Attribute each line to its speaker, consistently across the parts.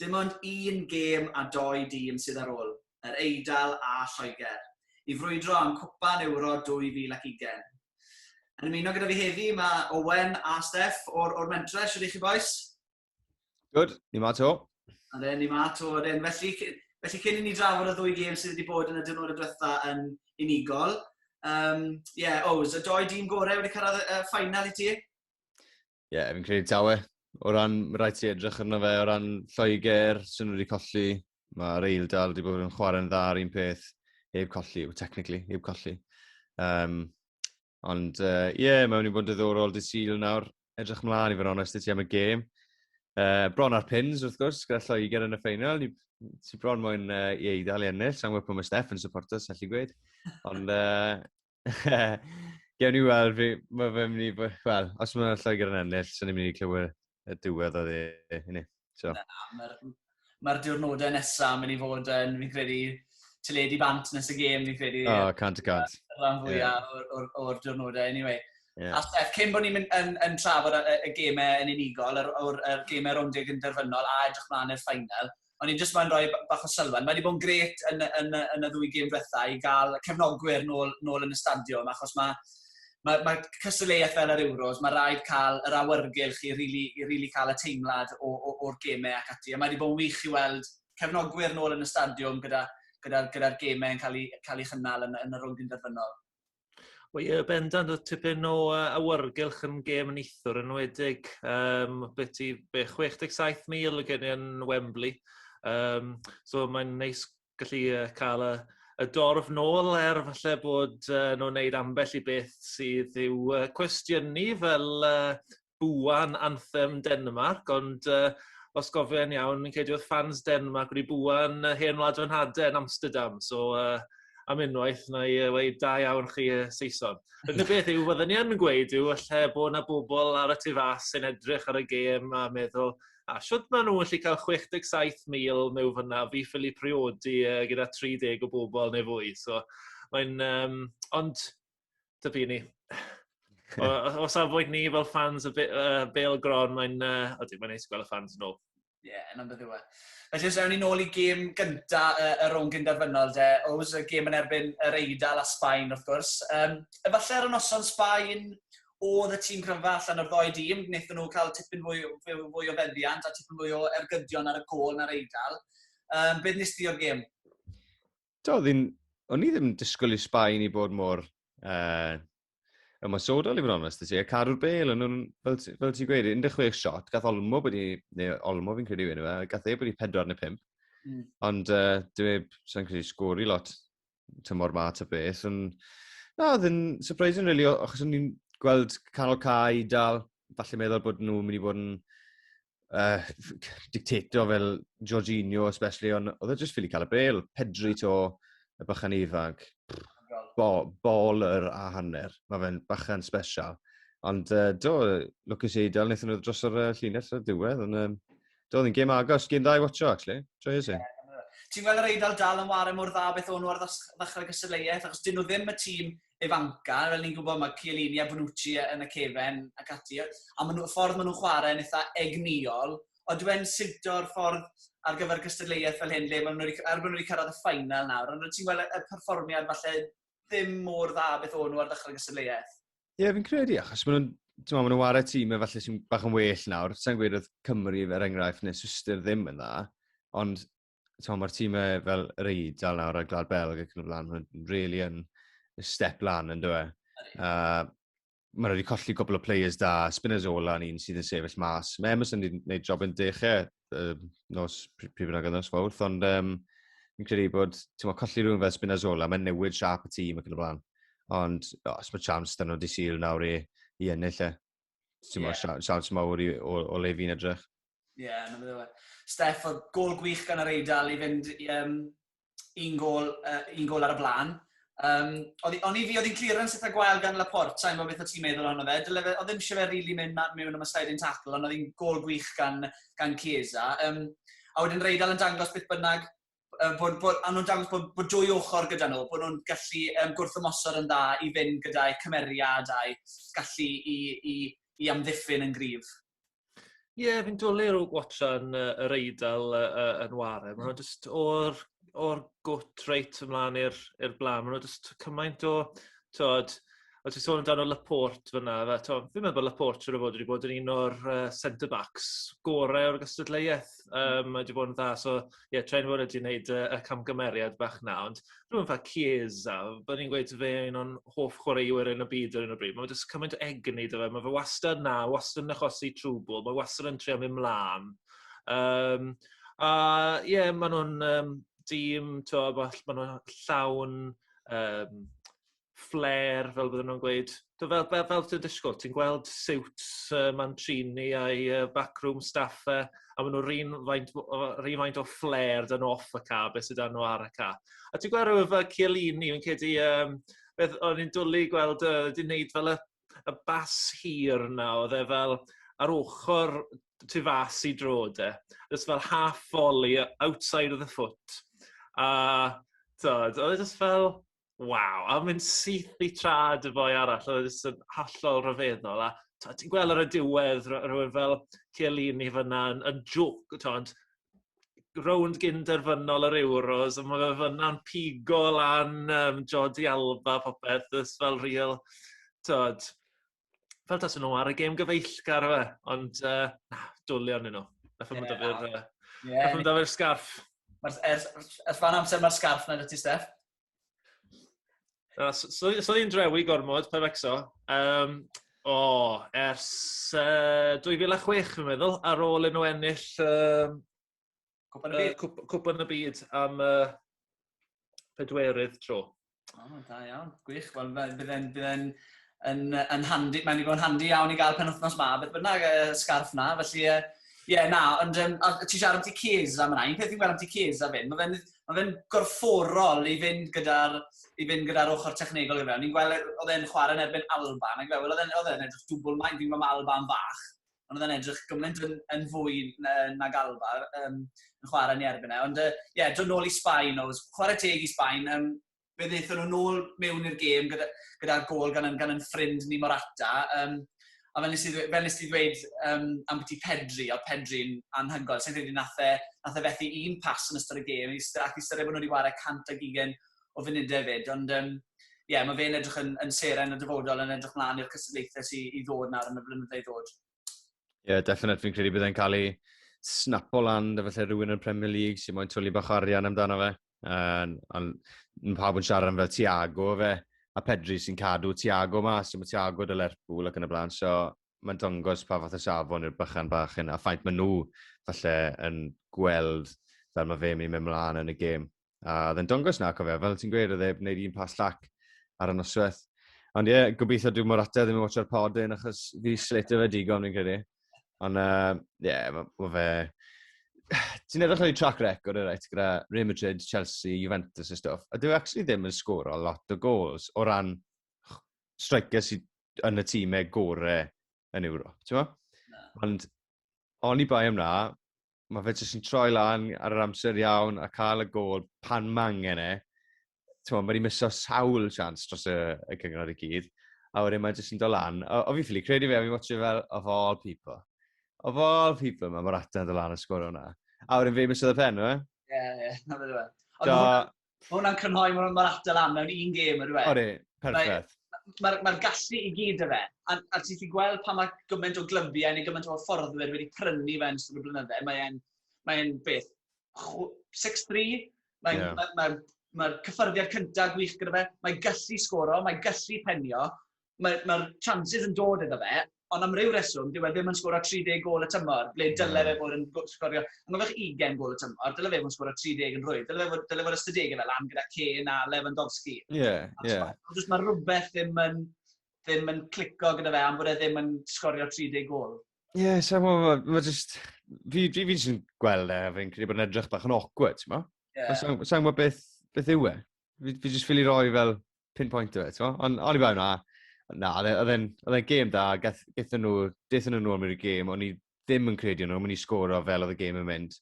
Speaker 1: Dim ond un gêm a dou dîm sydd ar ôl, Yr Eidal a Lloegr, i frwydro am Cwpan Ewro 2020. Yn ymuno gyda fi heddi mae Owen a Steff o'r, or mentre, sydd i chi boes? Good,
Speaker 2: ni ma to. Ade, ni ma to,
Speaker 1: ade. Felly, felly cyn i ni drafod y ddwy gêm sydd wedi bod yn y dynod y diwetha yn unigol, um, yeah, Ows, y doi dîm gorau wedi cyrraedd y uh, ffainal i ti? Ie, fi'n
Speaker 2: credu tawe. O ran, mae rhaid ti edrych arno fe, o ran Lloegr, sy'n nhw wedi colli, mae Reil Dal wedi bod yn chwarae'n dda ar un peth, heb colli, technically, heb colli. Um, ond, ie, uh, yeah, mae'n mynd i bod yn ddiddorol dy syl nawr, edrych mlaen i fod onest i ti am y gêm. Uh, bron ar pins, wrth gwrs, gyda Lloegr yn y ffeinal, ni ti bron mwyn uh, i eidal i ennill, sa'n gwybod pwy mae Steph yn supporters, allu gweud. Ond, uh, Gewn ni weld, mae fe'n mynd i bod... Wel, os mae'n Lloegr yn ennill, sy'n ni'n mynd i clywed y diwedd o ddi. So.
Speaker 1: Mae'r ma diwrnodau nesaf yn mynd i fod yn, fi'n credu, teledu bant nes y gêm, fi'n credu. O, oh, cant y cant.
Speaker 2: Yr rhan fwyaf
Speaker 1: yeah. o'r, or, or diwrnodau, anyway. Yeah. A Steph, cyn bod ni'n yn, yn trafod y, y gemau yn unigol, yr, yr, yr gemau rownd deg yn derfynol a edrych mlaen i'r ffainal, O'n i'n jyst moyn rhoi b- bach o sylwedd. Mae 'di bod yn grêt yn y yn y yn y ddwy gêm diwetha' i ga'l cefnogwyr nôl nôl yn y stadiwm achos ma' ma' ma' cystadleuaeth fel yr Euros, ma' raid cael yr awyrgylch i rili i rili cael y teimlad o o o'r geme ac ati, a mae 'di bod yn wych i weld cefnogwyr nôl yn y stadiwm gyda gyda'r gyda'r geme yn cael eu cael eu chynnal yn yn y rownd un derfynol. Wel ie,
Speaker 3: bendant oedd tipyn o uh, awyrgylch yn gêm yn eithwr yn wedig. Um, beth i be, 67,000 o gen yn Wembley. Um, so mae'n neis gallu uh, cael y, y dorf nôl er falle bod uh, nhw'n wneud ambell i beth sydd i'w uh, cwestiynu fel uh, bŵan anthem Denmarc, ond uh, os gofian iawn, yn credu oedd fans Denmark wedi bŵan uh, hen wlad yn hade yn Amsterdam, so uh, am unwaith na i uh, weid da iawn chi uh, Saeson. Yr unig beth yw, fydden ni yn gweud yw, allai bod yna bobl ar y tu fas sy'n edrych ar y gêm a meddwl, a siwt maen nhw'n gallu cael 67,000 mewn fyna, fi ffili priodi uh, gyda 30 o bobl neu fwy. So, mae'n, um, ond dyby ni. o, o safbwynt ni fel fans y uh, Bale Gron, mae'n uh, ydy, mae'n neis gweld y fans yn ôl. Ie, yeah, yna'n beth yw e.
Speaker 1: A jyst ewn ni'n ôl i gêm gynta uh, y rhwng gynderfynol de, Ows, y gêm yn erbyn yr Eidal a Sbaen wrth gwrs. Um, efallai ar y noson Sbaen oedd y tîm cryfa allan o'r ddoi dîm, wnaethon nhw cael tipyn fwy, fwy, fwy o feddiant a tipyn fwy o ergydion ar y gol na'r Eidal. Um, beth nes ti o'r gêm? Do, ddyn,
Speaker 2: o'n i ddim yn disgwyl i Sbaen i bod mor uh, ymwysodol i fod yn onest. Y carwr bel, yn, fel, fel ti'n gweud, 16 shot, gath Olmo bod i, neu Olmo fi'n credu yw e, gath ei bod i 4 neu 5. Mm. Ond uh, dwi e, sa'n credu sgori lot tymor ma ta beth. Yn, na, oedd yn surprising, really, achos o'n i'n gweld canol cae i dal, falle meddwl bod nhw'n mynd i fod yn uh, dictator fel Jorginho, especially, ond oedd e jyst ffili cael y bel. Pedri to, y bychan ifanc. Bo, baller a hanner. Mae fe'n bychan special. Ond uh, do, Lucas Eidal, wnaethon nhw dros yr uh, llinell ar diwedd, ond um, do, oedd yn gêm agos, gêm dda i watcho, actually. Joy is it? Ti'n gweld yr
Speaker 1: Eidal dal yn wario mor dda beth o'n nhw ar ddechrau gystadleuaeth, achos dyn nhw ddim y tîm ifancau, fel ni'n gwybod, mae Chiellini a Bonucci yn y cefen ac ati, a maen nhw, y ffordd maen nhw'n chwarae yn eitha egnïol, ond dwi yn siwto'r ffordd ar gyfer cystadleuaeth fel hyn, le maen nhw wedi, er bod nhw wedi cyrraedd y ffainal nawr, ond ti'n gweld y perfformiad falle ddim mor dda beth o'n nhw ar ddechrau'r gystadleuaeth. Ie, yeah, fi'n credu,
Speaker 2: achos maen nhw'n ti'n meddwl, maen nhw'n wario tîm efallai sy'n bach yn well nawr. Sa'n gweud oedd Cymru, er enghraifft, neu Swister ddim yn dda, ond Tom, mae'r tîm e fel yr eidl nawr ar Glad Belg ac yn y blaen, mae'n really yn step lan yn dweud. Uh, mae wedi colli cwbl o players da, Spinazzola yn un sydd yn sefyll mas. Mae Emerson wedi gwneud job yn dechau uh, nos pryd bynnag yn nos fawrth, ond um, fi'n credu bod ti'n meddwl, colli rhywun fel Spinazzola, mae'n newid siap y tîm ac yn y blaen. Ond os mae chance dyn nhw di syl nawr i, i ennill e. Ti'n yeah. siawns siawns mawr i, o, o le fi'n edrych. Ie, yeah, na bydde.
Speaker 1: Steff, oedd gol gwych gan yr Eidal i fynd i, um, un, gol, uh, un gol ar y blaen. Um, o'n i fi, oedd hi'n clearance eitha gwael gan Laporte, sa'n gwybod beth o ti'n meddwl ohono fe. Dyle fe, oedd ddim eisiau fe rili really mynd mewn am y sliding tackle, ond oedd hi'n gol gwych gan, gan Chiesa. Um, a wedyn Reidal yn dangos beth bynnag uh, bod, bod, a nhw'n dangos bod, bod dwy ochr gyda nhw, bod nhw'n gallu um, gwrthymosod yn dda i fynd gyda'i cymeriad a'i gallu i, i, i amddiffyn yn gryf. Ie, yeah,
Speaker 3: fi'n dwlu'r o watchan uh, yr eidl uh, uh, yn warem. Mae'n just o'r, or gwt reit ymlaen i'r blaen. Mae'n just cymaint o, tod, o ti'n sôn amdano Laporte fyna, fe, to, fi'n meddwl bod Laporte siwr o fod wedi bod yn un o'r uh, centre-backs gorau o'r gystadleuaeth. Um, mae wedi bod yn dda, so ie, yeah, Trent Wood wedi gwneud uh, y camgymeriad bach na, ond rhywun fa Chiesa, byddwn ni'n gweud fe un o'n hoff chwaraewyr yn y byd ar un o bryd. Mae wedi cymaint o egni dy fe, mae fe wastad na, wastad yn achosi trwbl, mae wastad yn trio mynd mlaen. Um, a ie, yeah, maen nhw'n um, dîm, maen nhw'n llawn um, flair fel bydden nhw'n gweud. T'o' fel fel fel ti'n disgwl ti'n gweld siwts yy Mancini a'i yy backroom staff e a ma' n'w 'r un faint o o 'r un faint o flair 'da n'w off y ca' be' sy 'da n'w ar y ca'. A ti'n gwel' rywun fel Chiellini fi'n credu yym beth o'n i'n dwli gweld yy 'di neud fel y y bas hir 'na o'dd e fel ar ochor tu fas i droad de jyst fel half volley o- outside of the foot a t'od o'dd e jyst fel waw, a mynd syth i trad y boi arall, oedd e jyst yn hollol rhyfeddol, a t'mod ti'n gweld ar y diwedd ro- rywun fel Chiellini fyna yn yn jwc t'mod rownd gyn derfynol yr Euros a ma' fe fyna'n pigo lan yym Jordi Alba a popeth jyst fel ril t'mod fel tas nhw ar y gêm gyfeillgar fe, ond uh, na, dwlio arnyn nhw. Nath nhw'n dod i'r... Nath nhw'n dod i'r sgarff. Ers,
Speaker 1: ers fan amser mae'r sgarff na ti, Steph. Na,
Speaker 3: so, so ni'n drewi gormod, pa fecso. Um, o, oh, ers uh, 2006, fi'n meddwl, ar ôl yn nhw ennill um, Cwpan y Byd? Uh, Cwpan y Byd am uh, pedwerydd tro. O, oh, da iawn.
Speaker 1: Gwych. Wel, bydde'n bydde yn, yn handi, mae'n digon handi iawn i gael pen wythnos ma, beth bynnag y scarf na, felly, ie, yeah, na, ond um, ti siarad am ti Keys am yna, un peth i'n gweld am ti Keys a fynd, mae'n ma fe gorfforol i fynd gyda'r i fynd gyda'r ochr technegol gyda fe. Ni'n gweld oedd e'n chwarae yn erbyn Alba, nag fe, oedd e'n edrych dwbl maen, fi'n gweld Alba yn fach, ond oedd e'n edrych gymaint yn, yn fwy na, nag Alba um, yn chwarae ni erbyn e. Ond ie, uh, yeah, dod nôl i Sbaen, oedd chwarae teg i Sbaen, um, fe ddeithon nhw nôl mewn i'r gêm gyda'r gyda gol gan, gan yn ffrind ni Morata. Um, a fel nes i, fel nes i ddweud um, am beth i Pedri, oedd Pedri'n anhygoel. Sa'n credu nath e, nath e fethu un pas yn ystod y gêm, ac i styried bod nhw wedi wario 100 ag ugen o funudau fyd, ond um, yeah, mae fe'n edrych yn, yn seren y dyfodol yn edrych mlaen i'r cystadlaethau sy'n i ddod nawr yn y blynyddoedd ddod. Ie, yeah, definite,
Speaker 2: fi'n credu byddai'n cael ei snapo lan, da felly rhywun yn Premier League sy'n moyn twli bach o arian amdano fe. Uh, ond pawb yn siarad am fel Tiago fe, a Pedri sy'n cadw Tiago mas, sy'n Tiago dy Lerpwl ac yn y blaen, so mae'n dangos pa fath o safon i'r bychan bach hyn, a ffaint maen nhw falle yn gweld fel mae fe'n mynd i mewn mlaen yn y gêm. A oedd e'n dongos na, cofio, fel ti'n gweud, oedd e'n gwneud un pas llac ar y noswaith. Ond ie, yeah, gobeithio dwi'n mor ateb ddim yn watcha'r pod yn, achos fi sletio fe digon, fi'n credu. Ond ie, uh, yeah, mae ma fe... Ti'n edrych ar ei track record, right, gyda Real Madrid, Chelsea, Juventus a stuff. A dwi e actually ddim yn sgoro lot o goals o ran striker sydd yn y tîmau gore yn Ewrop, ti'n Ond oni bai am na, mae fe jyst yn troi lan ar yr amser iawn a cael y gol pan mangen e. Mae wedi miso sawl chance dros y, y cyngor i gyd. A wedyn mae jyst yn dod lan. O, o fi'n ffili credu fe, a fi'n watch fel of all people. Of all people, mae Morata yn dod lan y sgwr o'na. A wedyn fe miso y pen, o e? Ie, ie, na fe
Speaker 1: dweud. Ond Mae hwnna'n crynhoi, mae hwnna'n atal lan mewn un gêm, ydyw e? Odi, perffaith.
Speaker 2: Mae'r ma, ma
Speaker 1: gallu i gyd y fe. A, a ti'n ti gweld pan mae gymaint o glybiau neu gymaint o hyfforddwyr wedi prynu fe yn ystod y blynydde, mae'n mae beth, 6-3, mae'n yeah. mae, mae, mae cyffyrddiad cyntaf gwych gyda fe, mae gallu sgoro, mae gallu penio, Mae'r ma chances yn dod iddo fe, ond am ryw reswm, dyw e ddim yn sgoro 30 gôl y tymor, ble dyle fe fod yn sgorio, angofiwch, 20 gôl y tymor, dyle fe fod yn sgoro 30 yn rwydd, dyle fe fod, dyle fod ystadegau fe lan gyda Kane a Lewandowski. Ie, yeah, ie. Yeah. Just mae rhywbeth ddim yn, ddim yn clico gyda fe am bod e ddim yn sgorio 30 gol. Ie, yeah, sa'n gwybod,
Speaker 2: mae just... Fi, fi, fi jyst yn gweld e, fi'n credu bod yn edrych bach yn awkward, ti'n mo? Yeah. Sa'n gwybod beth, beth yw e? Fi, fi jyst ffili roi fel pin point o fe, ti'n gwybod? Ond o'n i fel na, na, oedd e'n e, e gêm da, gaethon nhw, dethon nhw nôl mewn i'r gêm, o'n i ddim yn credu nhw, o'n i'n sgoro fel oedd y gêm yn mynd.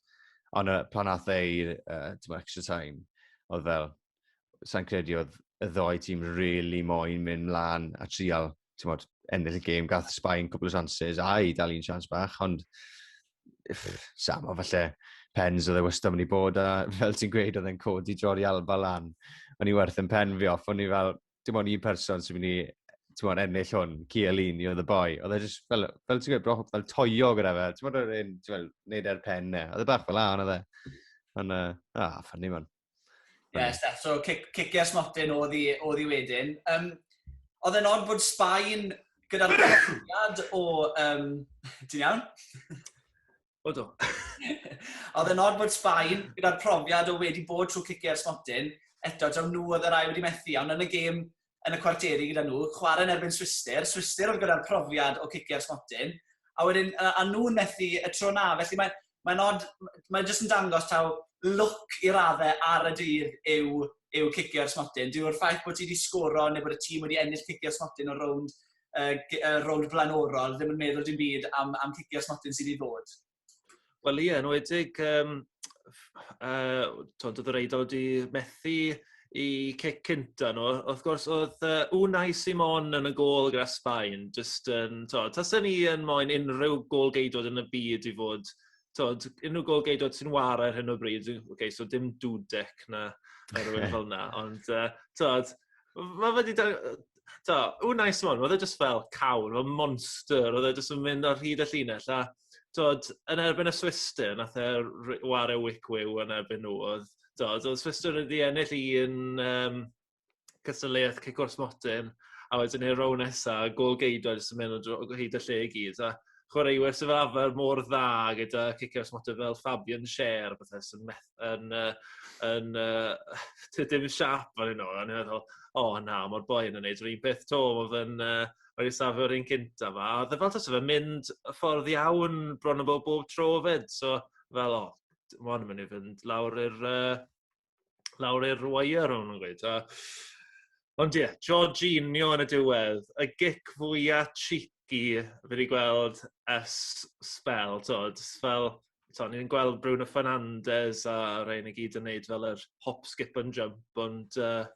Speaker 2: Ond uh, pan ath e i'r uh, extra time, oedd fel, sa'n credu oedd y ddoi tîm really moyn mynd mlaen a trial ti'n modd, ennill y gêm, gath Sbaen cwbl o chances, a i dal un chance bach, ond sam o falle pens oedd e wastad mynd i bod, a fel ti'n gweud, oedd e'n codi Jordi Alba lan. O'n i werth yn pen fi off, o'n i fel, dim ond un person sy'n mynd i ti'n ennill hwn, Cialini oedd y boi. Oedd e jyst fel, fel ti'n gwybod, fel toio gyda fe. Ti'n gwybod, oedd e'n, ti'n gwybod, neud e'r pen ne. Oedd e bach fel an, oedd e. Ond, uh, ah, ffynnu man. Ie, Steph,
Speaker 1: so cicio smotyn oedd i, oedd i wedyn. Um, oedd e'n od bod Sbaen gyda'r profiad o... Um, ti'n iawn?
Speaker 3: O do.
Speaker 1: oedd e'n od bod Sbaen gyda'r profiad o wedi bod trwy cicio'r smotyn, eto, taw nhw oedd yr ail wedi methu, ond yn y gêm yn y cwarteri gyda nhw, chwarae yn erbyn Swistir, Swistir oedd gyda'r profiad o cicio ar smotyn, a wedyn, a, a nhw'n methu y tro na, felly mae'n mae nod, mae'n jyst yn dangos taw look i raddau ar y dydd yw, yw cicio ar smotyn. Dyw'r ffaith bod ti wedi sgoro neu bod y tîm wedi ennill cicio ar smotyn o rownd, uh, rownd flaenorol ddim yn meddwl dim byd am, am cicio ar smotyn sydd wedi ddod. Wel ie, yn
Speaker 3: wedig, um, uh, to, oedd yr eidl wedi methu i cic cynta nhw. Wrth gwrs, oedd uh, Unai Simon yn y gol gyda Sbaen. Just, um, to, tasen ni yn moyn unrhyw gol geidod yn y byd i fod, to, unrhyw gol geidod sy'n war ar hyn o bryd. Okay, so dim dudec na, na rhywun fel na. Ond, uh, to, Mae wedi to, ww, nice one, oedd e just fel cawn, oedd monster, oedd e just yn mynd ar hyd y llinell, a to, yn erbyn y Swister, nath e war e wic wyw yn erbyn nhw, oedd, to, oedd Swister yn wedi ennill i yn um, cystadleuaeth cic o'r smotyn, a wedyn i'r row nesa, gol geidio, jyst yn mynd o hyd y lle i gyd, a chwaraewyr sy'n fel arfer mor dda gyda cicio smotyn fel Fabian Sher, bethau sy'n methu yn yy yn yy tŷ dim siâp fan hyn o, a o'n i'n meddwl, o na, mae'r boi yn gwneud yr un peth 'to, oedd yn yy o'n i'n safio yr un cynta 'ma, a oedd e fel tase fe'n mynd y ffordd iawn bron a bob bob tro 'fyd, so fel o, ma' hwn yn mynd i fynd lawr i'r yy lawr i'r wire o'n nhw'n gweud, a ond ie, Jorginho yn y diwedd, y gic fwya cheeky fi 'di gweld ers sbel, t'od, fel so, ni'n gweld Bruno Fernandes a rhain i gyd yn neud fel yr hop, skip and jump, ond ie, uh,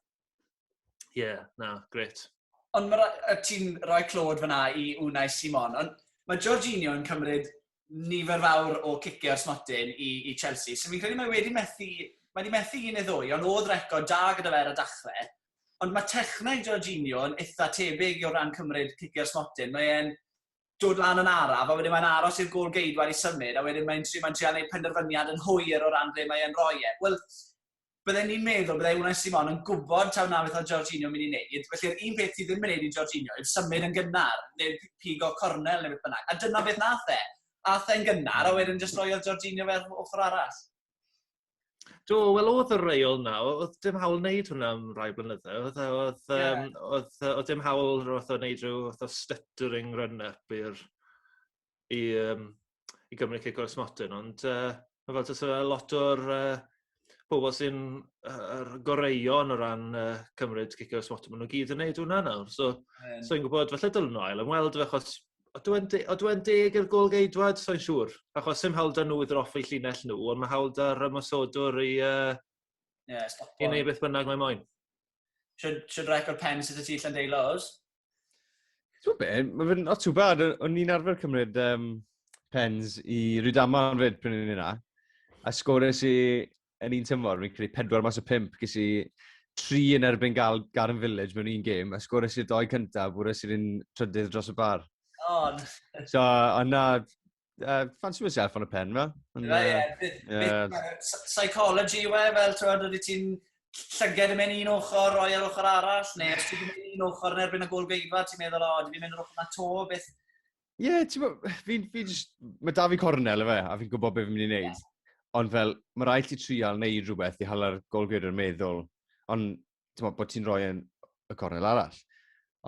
Speaker 3: yeah, na, gret. Ond mae ra
Speaker 1: ti'n rhoi clod fyna i Unai Simon, ond mae Jorginho yn cymryd nifer fawr o ciciau smotyn i, i Chelsea, so fi'n credu mae wedi methu, mae wedi methu un neu ddwy, ond oedd record da gyda fe ar y dachrau. Ond mae techneg Jorginho yn eitha tebyg o ran cymryd ciciau smotyn, mae'n dod lan yn araf a wedyn mae'n aros i'r gôl geidwad i symud a wedyn mae'n trio mae'n trio neud penderfyniad yn hwyr o ran ble mae e'n roi e. Wel, bydden ni'n meddwl bydde Unai Simon yn gwbod taw 'na beth oedd Jorginho myn' i neud, felly'r un peth ti ddim yn neud i Jorginho yw symud yn gynnar neu p- pigo cornel neu beth bynnag, a dyna beth nath e. Ath e'n gynnar a wedyn jyst roiodd Jorginho fe ar ochor arall.
Speaker 3: Do, wel oedd y reol 'na, o- oedd dim hawl wneud hwnna am rai blynyddoedd. Oedd yy oedd Ie. yym oedd yy oedd dim hawl rho- fatha wneud rhyw fath o stuttering run up i'r i yym i Gymru Cig Oes Modern ond yy ma' fel tase fe lot o'r yy pobol sy'n yy yr goreuon o ran yy cymryd Cig Oes Modern ma' nw gyd yn neud hwnna nawr so Yym, so fi'n gwbod falle dylen nw ail ymweld â fe achos Ydw e'n de- ydw e'n deg i'r gôl-geidwad? Soi'n siŵr. Achos sim hawl 'da nhw i ddroffu llinell nhw, ond mae hawl 'da'r ymosodwr i uh, Ie, stopo. i wneud beth bynnag mae moyn. Should, should
Speaker 1: record pen sydd y ti Llandeilo, oes?
Speaker 2: Ti'n be, mae fe'n not too bad. O- O'n i'n arfer cymryd um, pens i Rydama yn fyd pryn o'n i'n yna. A sgores i yn un tymor, fi'n credu pedwar mas o pimp, ges i tri yn erbyn gael Garden Village mewn un gêm, a sgores i'r doi cyntaf, bwres i'r un trydydd dros y bar. On. So, ond na, uh, fancy myself on y pen, fel. Ie, ie.
Speaker 1: Psychology yw e, fel, ti'n oeddi ti'n llyged yn mynd un ochr, roi ar ochr arall, neu os ti'n mynd un ochr yn erbyn y gol geidfa, ti'n meddwl, o, dwi'n mynd yr ochr na to, beth, Ie, yeah, ti'n
Speaker 2: gwybod, fi, fi just, mae da fi cornel efe, a fi'n gwybod beth fi'n mynd i wneud. Yeah. Ond fel, mae rhaid ti trial neu rhywbeth i hala'r golgwyr yn meddwl, ond ti'n gwybod bod ti'n rhoi yn y cornel arall.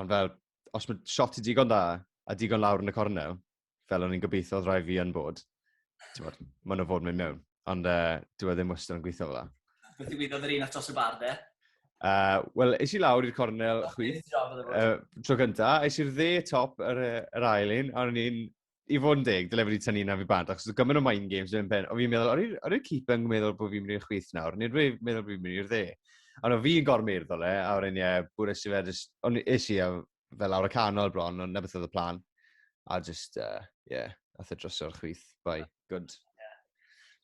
Speaker 2: Ond fel, os mae shot i digon da, a digon lawr yn y cornel, fel o'n i'n gobeithio oedd rhaid fi yn bod, Tywod, maen nhw fod yn mynd mewn. Ond uh,
Speaker 1: dwi e
Speaker 2: ddim
Speaker 1: wastad
Speaker 2: yn gweithio
Speaker 1: fel
Speaker 2: la. Beth
Speaker 1: i
Speaker 2: gwybod
Speaker 1: yr un
Speaker 2: atos
Speaker 1: y
Speaker 2: bar,
Speaker 1: de? Uh,
Speaker 2: Wel, eis i lawr i'r cornel oh, chwi. Uh, tro gynta, eis i'r dde top yr, yr ail un, a o'n i'n i fod yn deg, dyle wedi tynnu na fi bant, achos oedd gymaint o mind games yn pen. O fi'n meddwl, o'r i'r cip yn meddwl bod fi'n mynd i'r chwith nawr, nid wedi meddwl bod fi'n mynd i'r dde. Ond o fi'n gormyrdd o le, a o'r un ie, bwyd eisiau fe, ond eisiau, fel awr y canol bron, ond nebeth oedd y plan. A just, uh, yeah, ath y drosodd chwith. Bye. Good.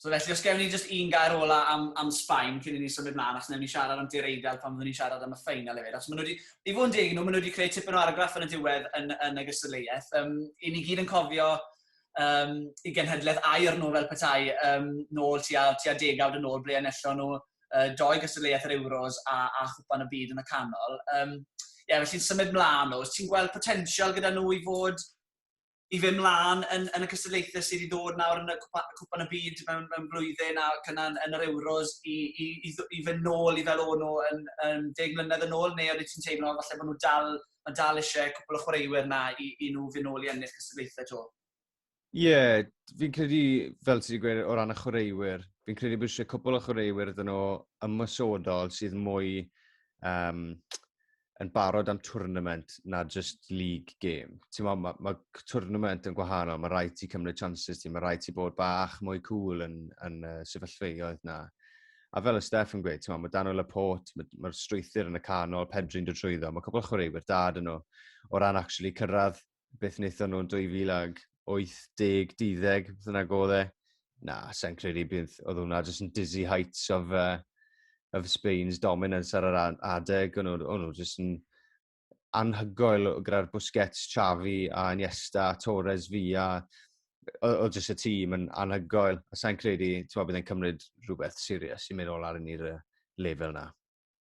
Speaker 2: So
Speaker 1: felly, os gewn ni just un gair ola am, am Sbaen cyn i ni symud mlaen, achos newn ni siarad am Dir Eidal pan fyddwn ni'n siarad am y ffeinal hefyd. Achos maen nhw wedi, i fod yn deg nhw, maen nhw wedi creu tipyn o argraff yn y diwedd yn, yn y gystadleuaeth. Um, I ni gyd yn cofio um, i genhedlaeth air nhw fel petai um, nôl tua, tua degawd yn ôl ble enello nhw uh, doi gystadleuaeth yr Euros a, a chwpan y byd yn y canol. Um, ie, yeah, felly'n symud mlaen o. Ti'n gweld potensial gyda nhw i fod i fe mlaen yn, yn y cystadlaethau sydd i ddod nawr yn y cwpan y byd mewn, mewn blwyddyn a gyna yn, yn yr Euros i, i, i, i fy nôl i fel o'n nhw yn, yn deg mlynedd yn ôl, neu oeddet ti'n teimlo falle bod nhw dal, mae dal eisiau cwpl o chwaraewyr na i, i nhw fy nôl i ennill cystadlaethau to? Ie, yeah,
Speaker 2: fi'n credu, fel ti wedi gweud, o ran y chwaraewyr, fi'n credu bod eisiau cwpl o chwaraewyr ydyn nhw ymwysodol sydd mwy um, yn barod am tournament na just league game. Ti'n ma, mae tournament yn gwahanol, mae rhaid ti cymryd chances ti, mae rhaid ti bod bach mwy cool yn, yn uh, sefyllfeoedd na. A fel y Steph yn gweud, ti'n ma, mae Daniel Laporte, mae'r mae strwythyr yn y canol, Pedri'n dod trwyddo, mae cwpl o chwaraewyr dad yn nhw o ran actually cyrraedd beth wnaethon nhw'n 2018, 12, beth yna godd e. Na, sa'n credu bydd, oedd hwnna jyst yn dizzy heights of, uh, of Spain's dominance ar yr adeg. O'n nhw jyst yn anhygoel gyda'r Busquets, Xavi a Iniesta, Torres, Villa. Oedd jyst y tîm yn anhygoel. A sa'n credu, ti'n meddwl, bydd e'n cymryd rhywbeth sirius i mynd ôl ar yn i'r lefel na.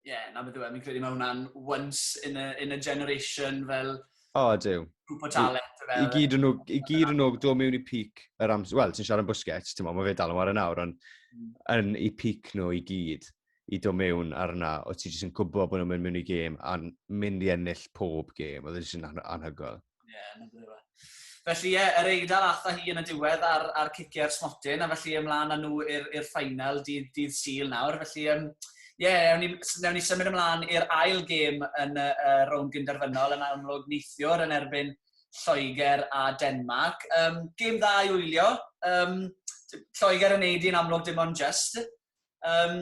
Speaker 2: Ie, na beth yw e,
Speaker 1: fi'n credu mae hwnna'n once in a, in a generation fel... O, ydyw.
Speaker 2: Grwp o talent.
Speaker 1: I, i gyd yn nhw, i
Speaker 2: gyd yn nhw, do mewn i peak yr amser, wel, ti'n siarad am Busquets, ti'n mo, mae fe dal yn wario nawr, ond mm. yn i peak nhw i gyd i do mewn arna, o ti jyst yn gwybod bod nhw'n mynd mewn i gêm a'n mynd i ennill pob gêm, oedd e jyst yn anhygoel. Ie, yeah, na beth yw e.
Speaker 1: Felly ie, yr Eidal atha hi yn y diwedd ar, ar ciciau'r smotyn, a felly ymlaen â nhw i'r ffainal dydd, dydd Sul nawr. Felly ie, um, yeah, newn, ni, newn ni symud ymlaen i'r ail gêm yn y uh, rownd gynderfynol yn amlwg neithiwr yn erbyn Lloegr a Denmark. Um, gêm dda i wylio. Um, Lloegr yn neud i'n amlwg dim ond just. Um,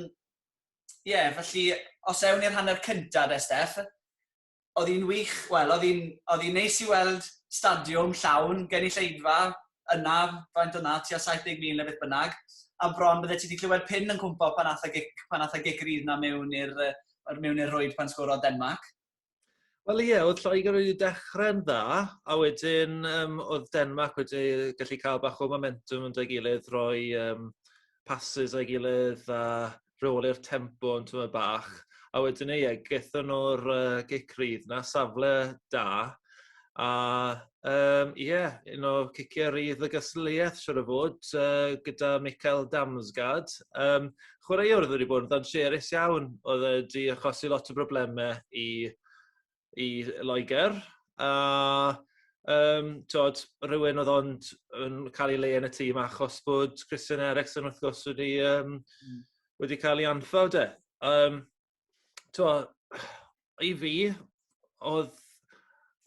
Speaker 1: ie, yeah, felly os ewn i'r hanner cyntaf de, Steff, oedd hi'n wych, wel, oedd hi'n... oedd hi'n neis i weld stadiwm llawn, gynulleidfa yna, faint oedd 'na, tua 70,000 neu beth bynnag, a bron byddet ti 'di clywed pin yn cwmpo pan aeth y gic pan aeth y gic rydd 'na mewn i'r yy yr mewn i'r rwyd pan sgorodd Denmarc. Wel
Speaker 3: ie, oedd Lloegr wedi dechrau'n dda, a wedyn um, oedd Denmarc wedi gallu cael bach o momentum yn dy gilydd, roi um, passes a'i gilydd a rheoli'r tempo yn tymed bach. A wedyn ei eg, gethon nhw'r uh, gic rydd na, safle da. A um, yeah, un o ciciau rydd y gystadleuaeth, siwr o fod, uh, gyda Michael Damsgaard. Um, chwaraewr oedd wedi bod yn ddanseris iawn, oedd wedi achosi lot o broblemau i i Loegr, a um, tod, rhywun oedd ond yn cael ei le yn y tîm achos bod Christian Eriksen wrth gwrs wedi, um, mm. wedi cael ei anffawd de. Um, to, I fi, oedd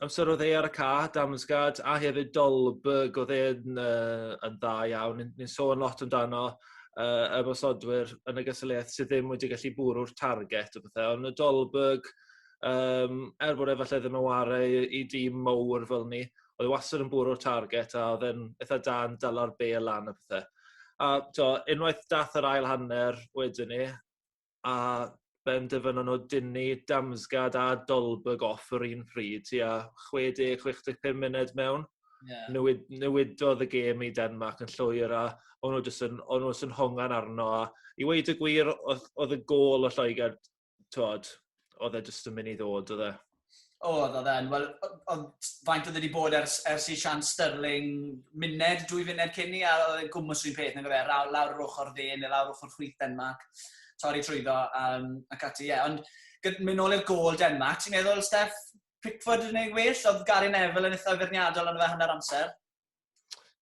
Speaker 3: amser oedd e ar y ca, Damsgad, a hefyd Dolberg oedd e'n uh, yn dda iawn. Ni'n sôn lot amdano uh, y bosodwyr yn y gysylliaeth sydd ddim wedi gallu bwrw'r target o bethau, ond y Dolberg, Yym er bod e falle ddim yn ware i i dîm mowr fel ni oedd e wastad yn bwrw'r target a oedd e'n itha da yn dala'r bel lan a pethe. A t'o' unwaith dath yr ail hanner wedyn 'ny a benderfynon nw dynnu Damsgaard a Dolberg off yr un pryd tua chwe deg chwech deg pum munud mewn. Ie. Newid newidodd y gêm i Denmark yn llwyr a o'n nw jyst yn o'n nw jys yn hongian arno a i weud y gwir o'dd o'dd y gôl o Lloegr tywod, oedd e jyst yn mynd i ddod, oedd e? Oedd, oedd e'n.
Speaker 1: Wel, oedd faint oedd wedi bod ers, ers i Sian Sterling muned, dwy funed cyn i, a oedd e'n gwmwys rhywun peth, nag oedd e, lawr yr ochr dde, neu lawr ochr chwith Denmark, torri trwyddo, um, ac ati, ie. Yeah. Ond mynd nôl i'r gol Denmark, ti'n meddwl, Steff, Pickford yn ei well, oedd Gary Neville yn eitha feirniadol yn y fe hanner amser?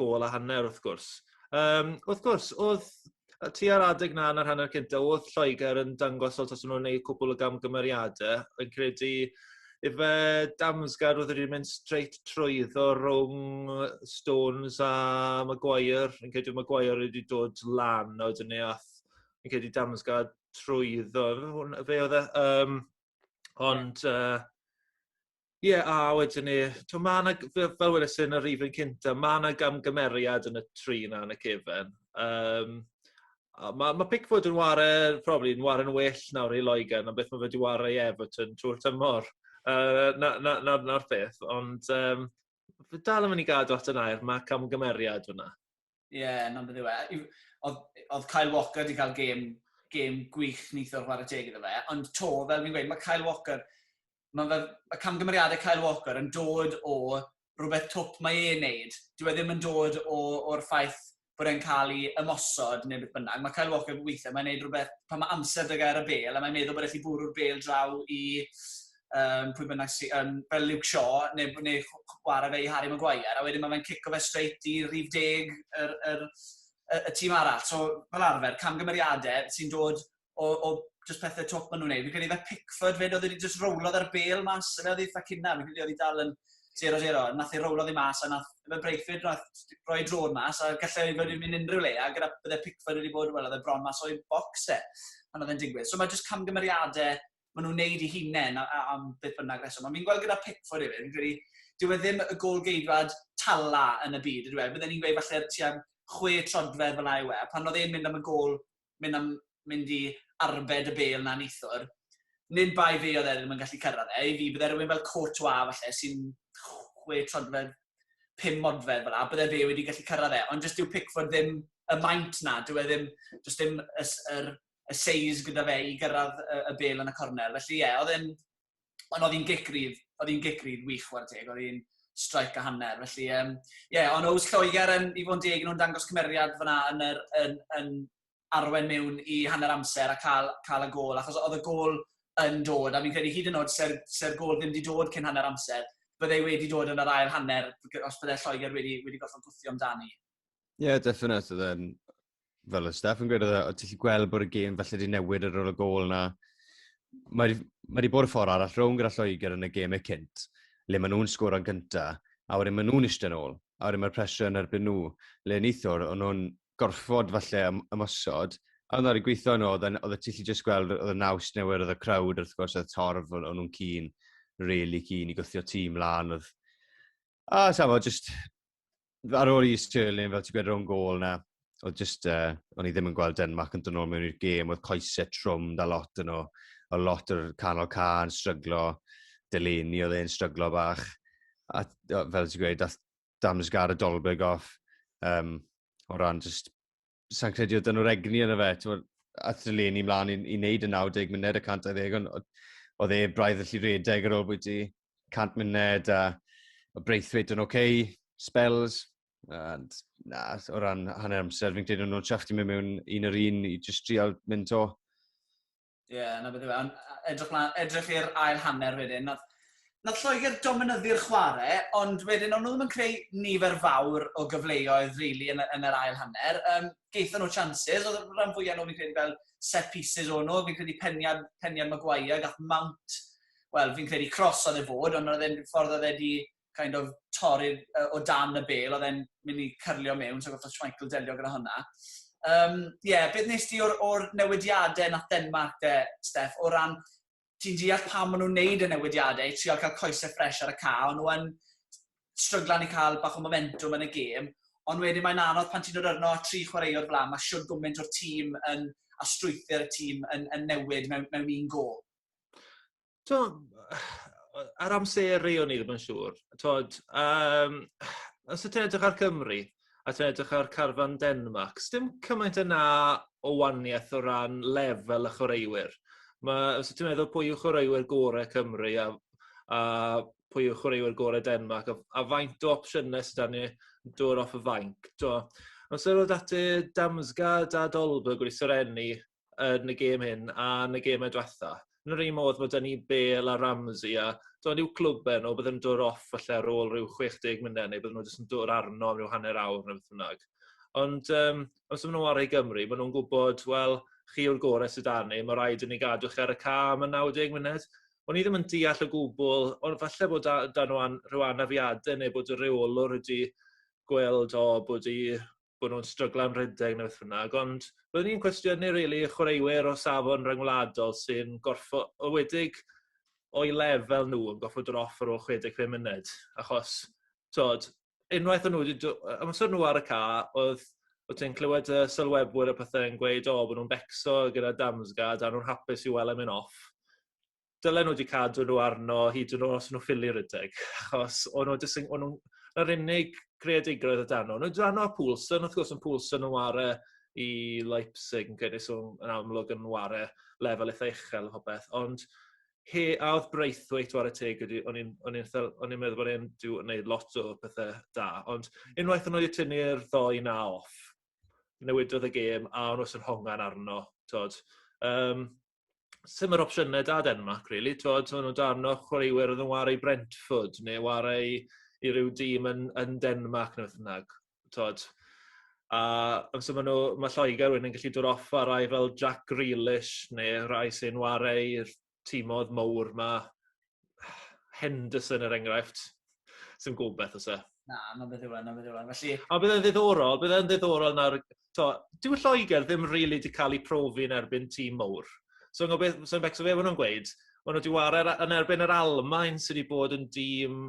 Speaker 3: gôl a hanner wrth gwrs. Um, wrth gwrs, oedd ti ar adeg na yn yr hanner cynta, oedd Lloegr yn dangos fel tas nhw'n gwneud cwbl o gamgymeriadau. Yn credu ife Damsgaard oedd wedi mynd straight trwyddo rhwng Stones a Maguire. Yn credu Maguire wedi dod lan o dyn ni ath. Yn credu Damsgaard trwyddo. Fe oedd e. Um, ond... Uh, Ie a wedyn ni t'o' ma' 'na g- fe- fel weles i yn y rifyn cynta ma' 'na gamgymeriad yn y tri 'na yn y cefen yym a ma' ma' Pickford yn ware probably yn ware'n well nawr i Loegr na beth ma' fe 'di ware i Everton trw'r tymor yy 'na 'na 'na 'na'r peth ond yym fi dal yn myn' i gadw at y nair ma' camgymeriad fyn 'na. Ie, yeah, na'n beth
Speaker 1: yw e. Oedd Kyle Walker wedi cael gêm, gêm gwych nithwr chwarae teg iddo fe, ond to, fel fi'n gweud, mae Kyle Walker, mae, fe, mae camgymeriadau Kyle Walker yn dod o rhywbeth twp mae e'n neud. Dwi e ddim yn dod o'r ffaith bod e'n cael ei ymosod neu beth bynnag. Mae Kyle Walker weithiau, mae'n neud rhywbeth pan mae amser dy gair y bel, a mae'n meddwl bod e'n gallu bwrw'r bel draw i um, pwy bynnag sy'n, um, fel Luke Shaw, neu, neu chwarae fe i Harry Maguire, a wedyn mae fe'n cico fe straight i rhif deg yr, yr, y, y tîm arall. So, fel arfer, camgymeriadau sy'n dod o, o just pethau twp maen nhw'n neud. Fi'n credu fe Pickford fyd, oedd wedi just rowlodd ar bel mas, fe oedd ei ffacina, fi'n credu oedd ei dal yn 0-0, nath ei rowlodd ei mas, a nath fe Breithfyd nath roi drôn mas, a gallai wedi wedi mynd unrhyw le, a gyda bydde Pickford wedi bod, wel, oedd e bron mas o'i bocs e, pan oedd e'n digwydd. So mae jyst camgymeriadau maen nhw'n wneud eu hunain am beth bynnag reswm. Ond fi'n gweld gyda Pickford hefyd, fi'n credu, dyw e ddim y gol geidwad tala yn y byd, ydw e? Bydden ni'n gweud falle tua chwe trodfedd fel yw e. Pan oedd e'n mynd am y gol, mynd, am, mynd i arbed y bel na nithwr, nid bai fi oedd e ddim yn gallu cyrraedd e. I fi, bydde rhywun fel Courtois falle sy'n chwe trodfedd, pum modfedd fel yna, bydde fe wedi gallu cyrraedd e. Ond jyst yw Pickford ddim y maint na, dyw e ddim, jyst ddim yr y seis gyda fe i gyrraedd y y bêl yn y cornel. Felly ie, oedd e'n... Ond oedd hi'n gic rydd, oedd hi'n gic rydd wych chwarae teg, oedd hi'n strike a hanner. Felly yym ie, ond oes Lloegr yn, i fod yn deg, nhw'n dangos cymeriad fyna yn yr yn yn arwain mewn i hanner amser a cael cael y gôl, achos oedd y gôl yn dod, a fi'n credu hyd yn oed se'r se'r gôl ddim wedi dod cyn hanner amser, bydde wedi dod yn yr ail hanner os bydde Lloegr wedi wedi gorfod gwthio amdani. Ie, definate,
Speaker 2: oedd e'n fel y staff yn gweud, oedd e, o, ti'n gallu gweld bod y gêm falle wedi newid ar ôl y gol na. Mae wedi ma wedi bod y ffordd arall rhwng gyda Lloegr yn y gêmau cynt, le maen nhw'n sgwr o'n gynta, a wedyn maen nhw'n eistedd yn ôl, a wedyn mae'r pressure yn erbyn nhw, le neithwr, o'n nhw'n gorfod falle ym- ymosod, a oedd wedi gweithio yn ôl, oedd y tilli jyst gweld, oedd y naws newydd, oedd y crowd, wrth gwrs, oedd y torf, o'n nhw'n cyn, really cyn i gwthio tîm lan, oedd A, oh, safo, just... Ar ôl i Sterling, fel ti'n gwed, rhwng gol na, oedd just, uh, o'n i ddim yn gweld Denmark yn dynol mewn i'r gêm, oedd coesau trwm da lot yn o, o lot o'r canol ca yn stryglo, Delaney oedd e'n stryglo bach, a fel ti'n gweud, dath Damsgaard a Dolberg off, um, o ran just sa'n credu oedd dyn nhw'r egni yn y fe, ti'n ath y le ni mlaen i, i wneud y 90 munud y 120, ond oedd e braidd allu redeg ar ôl bwyty 100 munud, a, a Braithwaite yn oce, okay, spells, and na, o ran hanner amser, fi'n credu nhw'n siafft i mewn un yr un i just trial mynd to. Ie,
Speaker 1: yeah, na beth yw e. Edrych, edrych i'r ail hanner wedyn. Nath, nath Lloegr dominyddu'r chwarae, ond wedyn o'n nhw ddim yn creu nifer fawr o gyfleoedd really, yn, yn yr ail hanner. Um, Geithon nhw chances, oedd y rhan fwyaf nhw fi'n credu fel set pieces o'n nhw, fi'n credu peniad, peniad Maguire, gath Mount, wel fi'n credu cros oedd e fod, ond oedd e'n ffordd oedd e wedi kind of torri'r uh, o dan y bel, oedd e'n mynd i cyrlio mewn, so goffa Schmeichel delio gyda hwnna. Um, yeah, beth nes ti o'r, or newidiadau nath Denmark de, Steph, o ran ti'n deall pam maen nhw'n wneud y newidiadau i trial cael coesau ffres ar y ca, ond nhw'n stryglan i cael bach o momentum yn y gêm, ond wedyn mae'n anodd pan ti'n dod arno tri chwaraewr fel mae siwr gwmynt o'r tîm yn, a strwythyr y tîm yn, yn newid mewn, mewn un gol. T'mo',
Speaker 3: yr amseru o'n i ddim yn siŵr. T'mod, yym, os ti'n edrych ar Cymru, a ti'n edrych ar carfan Denmark, sdim cymaint yna o waniaeth o ran lefel y chwaraewyr. Ma'... Os ti'n meddwl pwy yw chwaraewyr gore Cymru a a pwy yw chwaraewyr gore Denmark a a faint o opsiyne sy 'da ni dod off y fainc t'mo'. Amser o'dd dati Damsgaard a Dolberg wedi serennu yn y gêm hyn a yn y geme dwetha. Yn yr un modd mae dyn ni Bale a Ramsey a do'n i'w clwb e nhw bydd yn dod off falle ar ôl rhyw 60 munud neu bydd nhw jyst yn dod arno am rhyw hanner awr neu beth bynnag. Ond um, os ydyn nhw ar ei Gymru, maen nhw'n gwybod, wel, chi yw'r gorau sydd dan ni, mae rhaid i ni gadw chi ar y ca am y 90 munud. O'n i ddim yn deall o gwbl, ond falle bod dan nhw rhyw anafiadau neu bod y reolwr wedi gweld o bod i bod nhw'n stryglo am redeg neu beth bynnag, ond byddwn i'n cwestiynu rili y chwaraewyr o safon ryngwladol sy'n gorfodedig o'i lefel nhw yn gorfod dod off ar ôl 65 munud, achos tod, unwaith o'n nhw wedi dod, amser nhw ar y ca, oedd o ti'n clywed y sylwebwyr a pethau yn gweud, o, oh, bod nhw'n becso gyda Damsgaard a nhw'n hapus i weld e'n mynd off. dylen nhw wedi cadw nhw arno hyd yn os nhw ffili rydeg. Achos o'n nhw jyst yn... O'n nhw'n... Yr unig greadigrwydd y dan nhw. O'n nhw'n rhan o Poulsen, wrth gwrs, yn Poulsen yn ware i Leipzig yn credu so yn amlwg yn ware lefel eitha uchel o beth. Ond he, a oedd Braithwaite ware teg, o'n i'n o'n i'n meddwl bod e'n gwneud lot o pethau da. Ond unwaith o'n nhw wedi tynnu'r ddoi na off, newidodd y gêm a o'n nhw'n hongan arno. Tod. Um, sy'n yr opsiynau da Denmark, really. Twod, twod nhw darn o chwaraewyr oedd yn wario i Brentford, neu wario i, i ryw dîm yn, yn Denmark, neu beth bynnag. Twod, a amser maen nhw, mae Lloegr wedyn yn gallu dod off ar rai fel Jack Grealish, neu rai sy'n wario i'r tîmodd mowr ma, Henderson er enghraifft. Sy'n gwybod beth os e. Na, na beth yw e, na
Speaker 1: beth yw e. Felly... A bydde'n ddiddorol,
Speaker 3: bydde'n ddiddorol nawr... To, dyw Lloegr ddim rili really wedi cael ei profi yn erbyn tîm mowr. So, so beth, so beth, so fe, maen nhw'n gweud, maen nhw wedi wario yn erbyn yr Almain sydd wedi bod yn dîm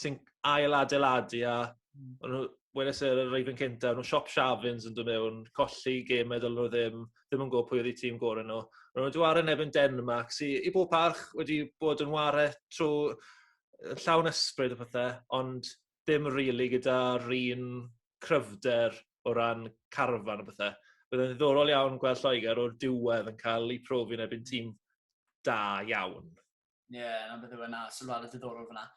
Speaker 3: sy'n ail adeiladu a hmm. o'n nhw weles yr e, reifen cynta, nhw siop Shavins yn dod mewn, colli gêm a dylwn nhw ddim, ddim yn gwybod pwy oedd eu tîm gorau nhw. Ond nhw wedi wario nefyn Denmark, sy i bob parch wedi bod yn wario trwy llawn ysbryd a pethau, ond ddim rili really gyda'r un cryfder o ran carfan a pethau. Byddai'n ddiddorol iawn gweld Lloegr o'r diwedd yn cael ei profi yn ebyn tîm da iawn. Ie, yeah, na
Speaker 1: beth yw e, na, sylwadau diddorol fyna.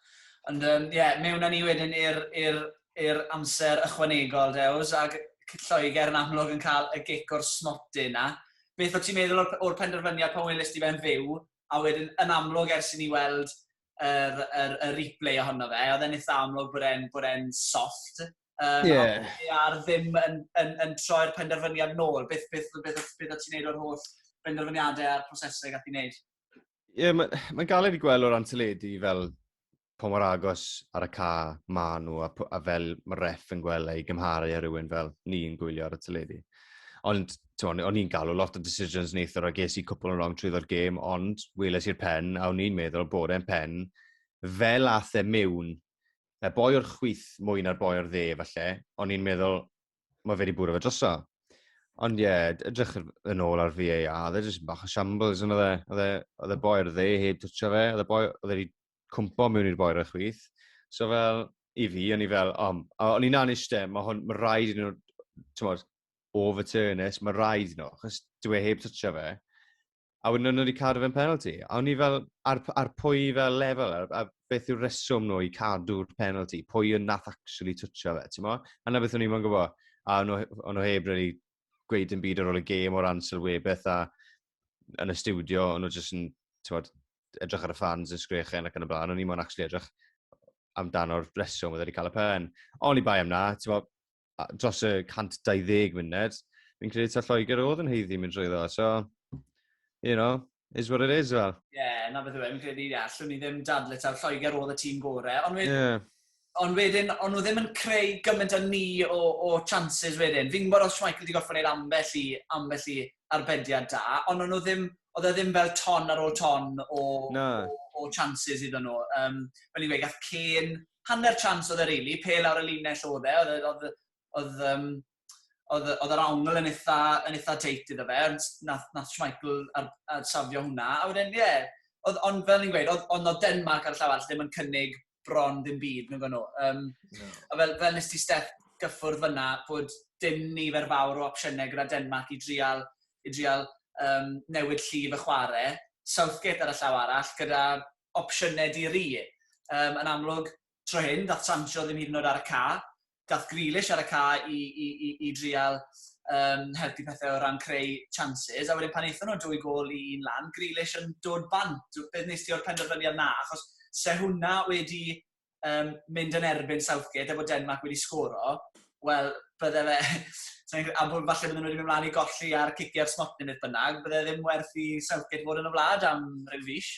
Speaker 1: Ond ie, um, yeah, mewn â ni wedyn i'r amser ychwanegol, Dews, ac Lloegr yn amlwg yn cael y gic o'r smotyn na. Beth o ti'n meddwl o'r, or penderfyniad pan welys ti fe'n fyw, a wedyn yn amlwg ers i ni weld yr, yr, yr replay ohono fe, oedd e'n eitha amlwg bod e'n bod e'n soft. Um, yeah. A'r ddim yn, yn, yn troi'r penderfyniad nôl. Beth, beth, beth, beth, beth o ti'n neud o'r holl benderfyniadau a'r prosesau gath i'n neud? Ie, mae'n
Speaker 2: ma galed i gweld o'r anteledu fel pa mor agos ar y ca ma nhw a, a fel mae ref yn gweld ei gymharu ar rhywun fel ni'n gwylio ar y teledu. Ond o'n i'n galw lot o decisions neithwr a ges i cwpl yn rong trwy ddod gêm, ond weles i'r pen a o'n i'n meddwl bod e'n pen fel ath e mewn y boi o'r chwyth mwy na'r boi o'r dde falle, o'n i'n meddwl, mae fe wedi bwrw fe droso. Ond ie, yeah, edrych yn ôl ar VAR, oedd e jyst bach o shambles yn oedd e. Oedd e, oedd e boer dde heb twtio fe, oedd e boer, oedd e wedi cwmpo mewn i'r boer y chwith. So fel, i fi, o'n i fel, o, um, o'n i'n aniste, mae hwn, mae rhaid yn nhw, ti'n modd, overturnus, mae rhaid nhw, achos dwi e heb twtio fe. a wedyn o'n nhw wedi cadw fe'n penalty. A o'n i fel, ar, ar pwy fel lefel, a, a beth yw'r reswm nhw i cadw'r penalty, pwy yn nath actually twtio fe, ti'n mo? A na beth o'n i'n mwyn gwybod, a o'n nhw heb really gweud yn byd ar ôl y gêm o ran sylwebeth a yn y studio, o'n nhw jyst yn, ti'n bod, edrych ar y fans yn sgrechen ac yn y blaen, o'n i'n mwyn actually edrych amdano'r reswm oedd wedi cael y pen. Oni bai am na, ti'n bod, dros y 120 munud, fi'n credu ta Lloegr oedd yn heiddi mynd trwy ddo, so, you know, is what it is fel. Ie, yeah, na beth yw e, fi'n
Speaker 1: credu, ie, allwn ni ddim dadle taw Lloegr oedd y tîm gore, ond wedyn, yeah. ond wedyn, ond nhw ddim yn creu gymaint â ni o, o chances wedyn. Fi'n gwybod os Michael wedi gorfod gwneud ambell i, ambell i arbediad da, ond nhw ddim, oedd e ddim fel ton ar ôl ton o, no. o, o chances iddyn nhw. Um, fel i'n gweud, gath Cain hanner chance oedd e rili, pe lawr y linell oedd e, oedd, oedd, oedd, um, oedd, oedd yr awngl yn eitha, yn eitha teit iddo fe, ond nath, nath Schmeichel ar, ar safio hwnna, a wedyn, ie, yeah, oedd, ond fel ni'n gweud, oedd, ond oedd Denmark ar y llaw all ddim yn cynnig bron ddim byd, nhw'n gwneud. Um, no. A fel, fel nes ti Steph gyffwrdd fyna, bod dim nifer fawr o opsiynau gyda Denmark i drial, i drial um, newid llif y chwarae. Southgate ar y llaw arall, gyda opsiynau di-ri. Yym, yn amlwg, tro hyn, daeth Sancho ddim hyd yn oed ar y ca. Daeth Grealish ar y ca i, i, i, i drial um, helpu pethau o ran creu chances, a wedyn pan eithon nhw dwy gol i un lan, Grealish yn dod bant. Beth nes ti o'r penderfyniad na? Achos se hwnna wedi um, mynd yn erbyn Southgate efo Denmark wedi sgoro, wel, bydde fe... a bod falle bydden nhw wedi mynd mlaen i golli ar ciciau smot neu beth bynnag, bydde ddim werth i Southgate fod yn y wlad am rhyw fus.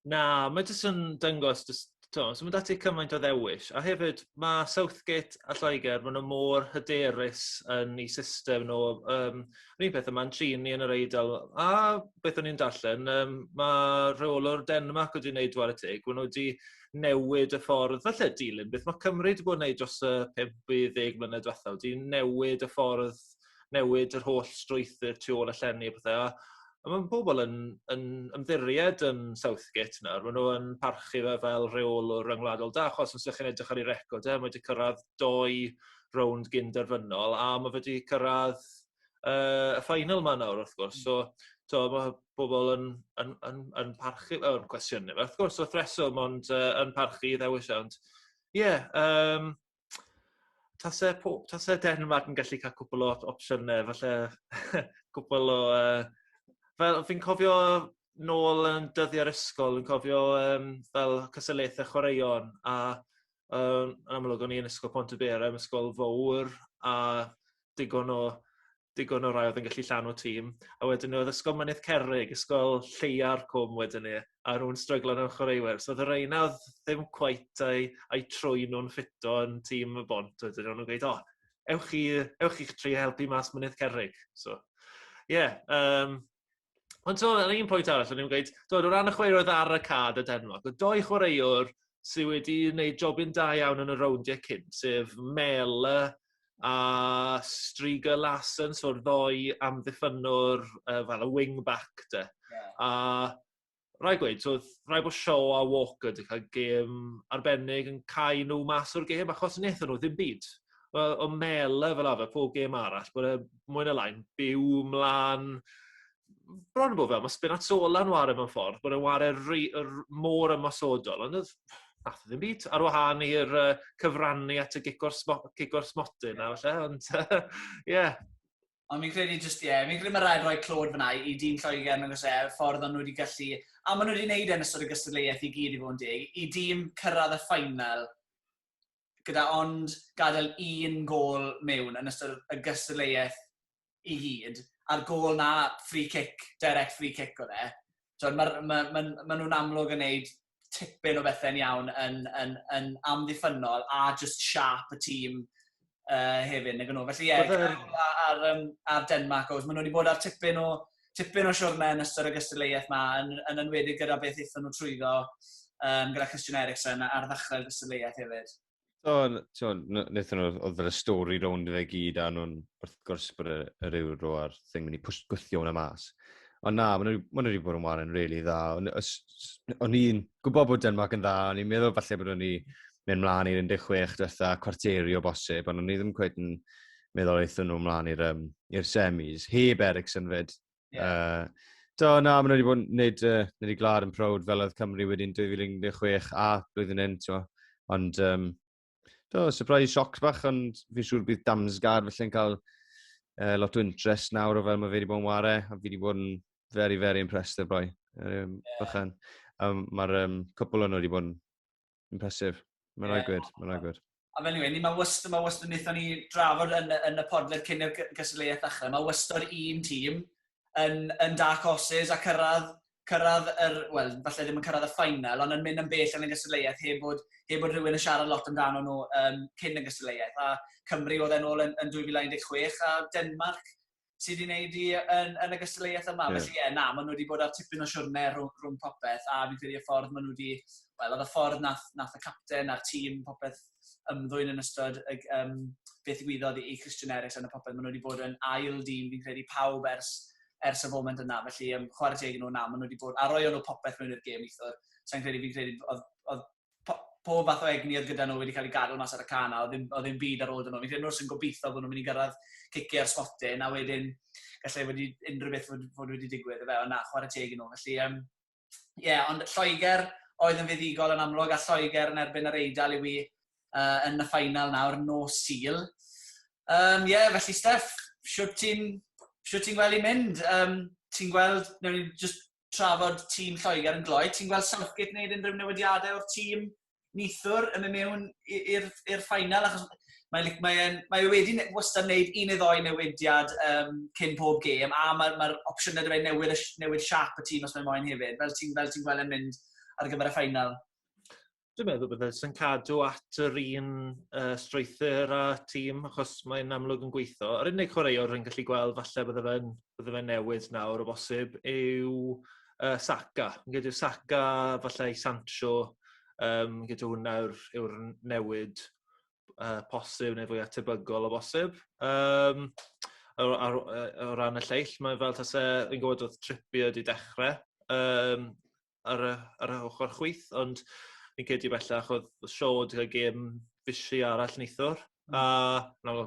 Speaker 1: Na,
Speaker 3: mae jyst yn dyngos, jyst, to, so mae dati cymaint o ddewis. A hefyd, mae Southgate a Lloegr, maen nhw mor hyderus yn ei system nhw. Um, Yr un peth yma'n trin ni yn yr Eidal. A beth o'n i'n darllen, um, mae rheolwr Denmark wedi gwneud dwar y teg, maen nhw wedi newid y ffordd, falle dilyn beth mae Cymru wedi bod yn gwneud dros y 50 mlynedd diwethaf, wedi newid y ffordd, newid yr holl strwythyr tu ôl y llenni a pethau. A mae pobl yn, yn ymddiried yn Southgate nawr, maen nhw yn parchu fe fel rheolwr yng Ngwladol Da, achos os ydych chi'n edrych ar ei record e, mae wedi cyrraedd doi rownd gyn derfynol a ma' fe 'di cyrradd yy y final 'ma nawr wrth gwrs so t'o' ma' pobol yn yn yn yn parchu fel yn cwestiynu fe wrth gwrs wrth reswm ond yy yn parchu 'i ddewis e ond ie yym tase po- tase Denmarc yn gallu ca'l cwpwl o op- opsiyne falle cwpwl o yy fel fi'n cofio nôl yn dyddie'r ysgol yn cofio yym fel cystadlaethe chwaraeon a Yym yn amlwg o'n i yn Ysgol Pontyberem, ysgol fowr a digon o digon o rai oedd yn gallu llanw tîm. A wedyn oedd Ysgol Mynydd Cerrig, ysgol lleia'r cwm wedyn ni, a nhw'n stryglo nhw'n chwaraewyr. So oedd y reina ddim cweit a'u, a'u trwy nhw'n ffito yn tîm y bont wedyn ni. O'n nhw'n gweud, o, ewch chi, ewch chi'ch tri helpu mas Mynydd Cerrig. So, ie, yeah, um, Ond ti'n meddwl, un pwynt arall, o'n i'n gweud, dod o ran y chwaraewyr oedd ar y cad y Denmark, o doi chwaraewr sydd wedi gwneud jobyn da iawn yn y rowndiau cyn, sef Mel a Striga Larsen, so'r ddoi amddiffynwr uh, fel y wing-back de. Yeah. A rhaid gweud, so, rhaid bod Shaw a Walker wedi cael gêm arbennig yn cael nhw mas o'r gêm, achos wnaethon nhw ddim byd. O mele fel arfer, pob gêm arall, bod e mwy na lain, byw mlaen, bron yn bod fel, mae Spinazzola yn wario mewn ffordd, bod e'n wario rhy, mor ymosodol, ond oedd nath ddim byd, ar wahân i'r uh, cyfrannu at y gigor, smo, gigor smotyn na, falle, ond ie, yeah. Ond fi'n
Speaker 1: credu jyst, ie, fi'n credu mae rhaid rhoi clod fyna i dîm Lloegr yn agos e, y ffordd o'n nhw wedi gallu, a maen nhw wedi gwneud e yn ystod y gystadleuaeth i gyd i fod yn deg, i dîm cyrraedd y ffainal gyda ond gadael un gol mewn yn ystod y gystadleuaeth i gyd, a'r gol na free kick, direct free kick oedd e. Tibod, maen ma, ma, ma nhw'n amlwg yn gwneud tipyn o bethe'n iawn yn yn yn amddiffynnol a just sharp y tîm uh, hefyd nag nhw. Felly ie, yeah, ar, um, ar Denmark, oes, maen nhw wedi bod ar tipyn o, tipyn o siwrne yn ystod y gystadleuaeth yma, yn, yn enwedig gyda beth eithon nhw trwyddo um, gyda Christian Eriksen ar ddechrau'r gystadleuaeth hefyd. Twn, twn,
Speaker 2: wnaethon nhw, oedd yr stori rownd fe gyd, a nhw'n wrth gwrs bod yr, yr euro a'r thing mynd i pwys gwythio hwnna mas. Ond na, maen nhw wedi bod yn warren really dda. O'n i'n gwybod bod Denmark yn dda, o'n i'n meddwl falle bod o'n i mynd mlaen i'r 16 diwetha cwarteri o bosib, ond o'n i ddim cweith yn meddwl eithon nhw mlaen i'r um, semis, heb Ericsson fyd. Yeah. Uh,
Speaker 1: do, na, maen nhw
Speaker 2: wedi bod yn gwneud, uh, gwneud i glad yn prowd fel oedd Cymru wedyn 2016 a blwyddyn hyn, ti'n Ond, um, do, surprise sioc bach, ond fi'n siŵr bydd Damsgaard felly'n cael uh, lot o interest nawr o fel mae fe wedi bod yn ware, a fi wedi bod yn very, very impressed o'r boi. Um, yeah. Bychan. Um, Mae'r um, cwpl o'n wedi bod yn Impressive. Mae'n yeah. rhaid gwed, mae'n rhaid gwed. A fel yw'n, mae
Speaker 1: wyst, mae wyst yn eithon ni drafod yn, yn y podled cyn i'r gystadleuaeth ddechrau. Mae wyst o'r un tîm yn, yn dark horses a cyrraedd, cyrraedd yr, wel, falle ddim yn cyrraedd y ffainal, ond yn mynd yn bell yn y gystadleuaeth heb bod, heb bod rhywun yn siarad lot amdano nhw um, cyn y gystadleuaeth. A Cymru oedd e'n ôl yn, yn 2016 a Denmark sy wedi wneud i yn, yn y gystadleuaeth yma. Yeah. Felly ie, yeah, na, maen nhw wedi bod ar tipyn o siwrne rhwng, rhwng popeth, a fi'n credu y ffordd maen nhw wedi, wel, oedd y ffordd nath, nath y capten a'r tîm popeth ymddwyn yn ystod y, um, beth gwyddoedd i Christian Eriksen a popeth. Maen nhw wedi bod yn ail dîm, fi'n credu pawb ers, ers y foment yna. Felly, um, chwarae teg nhw na, maen nhw wedi bod, a roi o'n nhw popeth mewn i'r gêm eithwr. Sa'n credu, fi'n credu, oedd, oedd pob fath o egni oedd gyda nhw wedi cael ei gadw mas ar y can a oedd ddim, oedd ddim byd ar ôl dyn nhw. Fi'n credu nhw sy'n gobeithio bod nhw'n mynd i gyrraedd cici ar smotin a wedyn gallai wedi unrhyw beth fod, fod wedi digwydd. Fe, ond na, chwarae teg i nhw. Felly, um, yeah, ond Lloegr oedd yn fuddigol yn amlwg a Lloegr yn erbyn yr Eidal yw i uh, yn y ffainal nawr nos Sul. Um, yeah, felly Steff, siwt ti'n ti gweld i'n mynd? Um, ti'n gweld, newn ni just tra fod tîm Lloegr yn gloi. Ti'n gweld Southgate yn gwneud unrhyw newidiadau o'r tîm nithwr yn mynd mewn i'r ffainal? Achos mae, like, mae, en, mae e wedi wastad wneud un neu ddoi newidiad um, cyn pob gêm, a mae'r mae opsiynau dweud newid, newid siap y tîm os mae'n moyn hefyd, fel ti'n ti gweld e'n mynd ar gyfer y ffainal. Dwi'n meddwl
Speaker 3: bydd e'n cadw at yr un uh, strwythyr a tîm, achos mae'n amlwg yn gweithio. Yr unig chwaraewr rwy'n gallu gweld, falle bydde fe'n bydde fe newid nawr o bosib, yw uh, Saka. Yn gyda'r Saka, falle i Sancho, um, gyda hwnna yw'r yw newid uh, posib neu fwy atebygol o bosib. Um, o, o, o ran y lleill, mae'n fel tase, fi'n gwybod oedd Trippier wedi dechrau, um, ar y, ar y ochr chwyth, ond fi'n credu bellach oedd Shaw wedi cael gêm fisi arall neithwr. Mm. A na,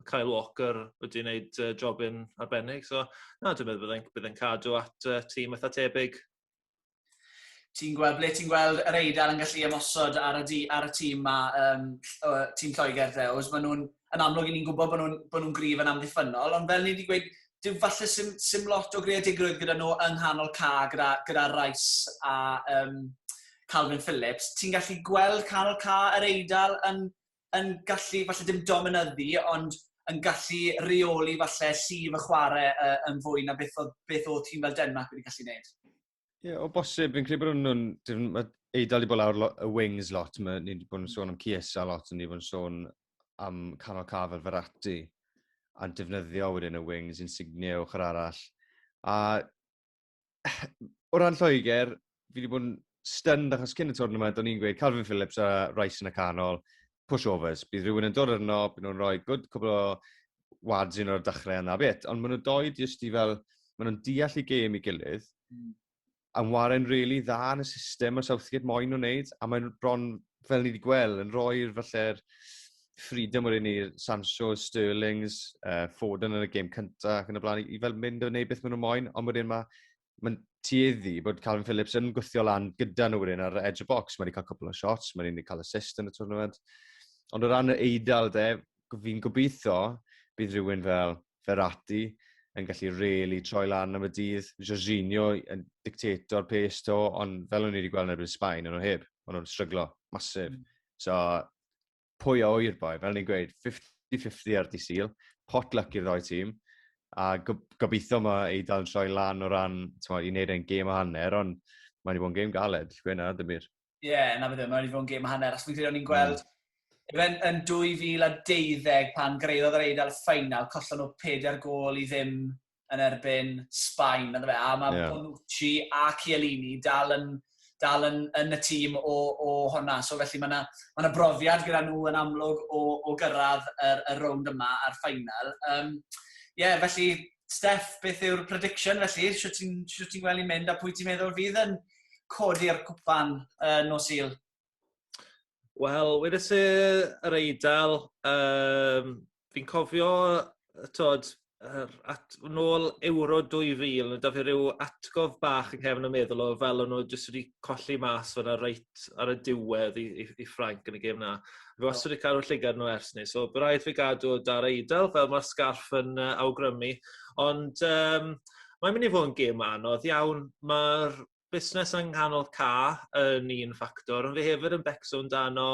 Speaker 3: Kyle Walker wedi wneud uh, job yn arbennig. So, na, dwi'n meddwl byddai'n bydd cadw at uh, tîm eitha tebyg.
Speaker 1: Ti'n gweld, ble ti'n gweld yr eidl yn gallu ymosod ar y, di, ar y tîm ma, um, tîm Lloegr ddews? Maen nhw'n, yn amlwg, ni'n gwybod bod nhw'n nhw, gryf yn amddiffynol, ond fel ni wedi gweud, dyw falle sim, sim lot o greadigrwydd gyda nhw yng nghanol ca gyda, gyda Rice a um, Calvin Phillips. Ti'n gallu gweld canol ca yr eidl yn, yn gallu, falle dim dominyddu, ond yn gallu reoli falle llif y chwarae uh, yn fwy na beth oedd, beth oedd tîm fel Denmark wedi gallu gwneud. Ie, yeah, o bosib,
Speaker 2: fi'n credu bod nhw'n... Mae Eidal wedi bod lawr y wings lot, ni wedi bod yn sôn am Ciesa lot, ni wedi bod yn sôn am canol caf fel Ferrati, a'n defnyddio wedyn y wings, Insigne o'ch yr arall. A o ran Lloegr, fi wedi bod yn stunned achos cyn y twrnament, o'n i'n gweud Calvin Phillips a Rice yn y canol, pushovers. Bydd rhywun yn dod arno, bydd nhw'n rhoi good cwbl o wads un o'r dechrau yna bit. Ond maen nhw doi jyst i fel, maen nhw'n deall i gêm i gilydd, mm. a warren rili really dda yn y system mae Southgate moyn nhw'n neud, a mae'n bron, fel ni wedi gweld, yn rhoi'r falle'r freedom o'r un i'r Sancho, Sterlings, uh, Foden yn y gêm cyntaf ac yn y blaen, i fel mynd o wneud beth maen nhw'n moyn, ond wedyn mae mae'n tueddu bod Calvin Phillips yn gwythio lan gyda nhw wedyn ar edge of box. Mae wedi cael cwpl o shots, mae wedi cael assist yn y tournament. Ond o ran yr eidl, de, fi'n gobeithio bydd rhywun fel Ferrati yn gallu really troi lan am y dydd. Jorginho yn dictator pace to, ond fel o'n i wedi gweld yn erbyn Sbaen, o'n nhw heb. O'n nhw'n stryglo, masif. Mm. So, pwy a oer boi, fel ni'n gweud, 50-50 ar di syl, pot luck i'r ddoi tîm, a gobeithio mae ei dal yn troi lan o ran, ti'n i wneud e'n gêm a hanner, ond mae wedi bod yn gêm galed, gwena, dim byd. Ie, yeah, na beth yw, mae wedi
Speaker 1: bod yn gêm a hanner, achos fi'n credu o'n i'n gweld, mm. Efen yn 2012 pan greiddodd yr Eidal y ffeinal, collon nhw ped ar gol i ddim yn erbyn Sbaen, na ddefe, a mae yeah. Bonucci a Chiellini dal yn, dal yn, yn y tîm o, o honna. So felly mae yna ma, na, brofiad gyda nhw yn amlwg o, o gyrraedd yr, y rownd yma a'r ffainal. Um, yeah, felly, Steff, beth yw'r prediction felly? Siwt ti'n ti gweld i'n mynd a pwy ti'n meddwl fydd yn codi'r cwpan uh, nos il?
Speaker 3: Wel, wedes i yr Eidal, um, fi'n cofio, tod, er, at, nôl Euro 2000, da fi rhyw atgof bach yn cefn y meddwl o fel o'n nhw jyst wedi colli mas fyna reit ar y diwedd i, i, i Ffranc yn y gêm na. Fi wastad wedi cadw llygad nhw ers ni, so bydd rhaid fi gadw dar eidl fel mae'r sgarff yn uh, awgrymu. Ond um, mae'n mynd i fod yn gêm anodd iawn. Mae'r busnes yng nghanol ca yn un ffactor ond fi hefyd yn becso amdano